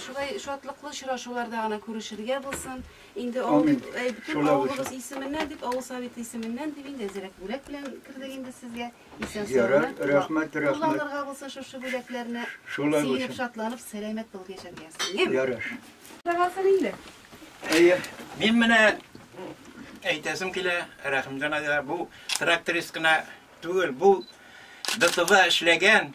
Шулай шатлыклы очрашуларда гына күрешергә булсын. Инде бөтен авылыбыз исеменнән дип, авыл советы исеменнән дип инде әзрәк бүләк белән кердек инде сезгә. Исән саулык. Рәхмәт, рәхмәт. Кулланырга булсын шушы бүләкләрне. Сөенеп, шатланып, сәламәт булып яшәргә язсын. Ярыш. Сагалсын инде. Әйе. Мин менә әйтәсем килә, Рәхимҗан әйтә, бу тракторист кына түгел, бу ДТВ эшләгән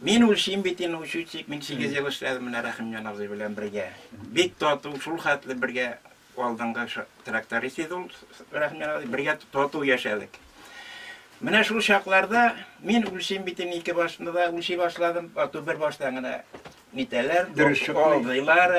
Мин үлчим бит инде учетчик, мин 8 ел эшләдем менә Рәхимҗан абзый белән бергә. Бик тату, шул хәтле бергә алдынгы тракторист иде ул Рәхимҗан абзый, бергә тату яшәдек. Менә шул чакларда мин үлчим бит инде ике башны да үлчи башладым, ату бер баштан гына нитәләр, дөрес чоклыйлар.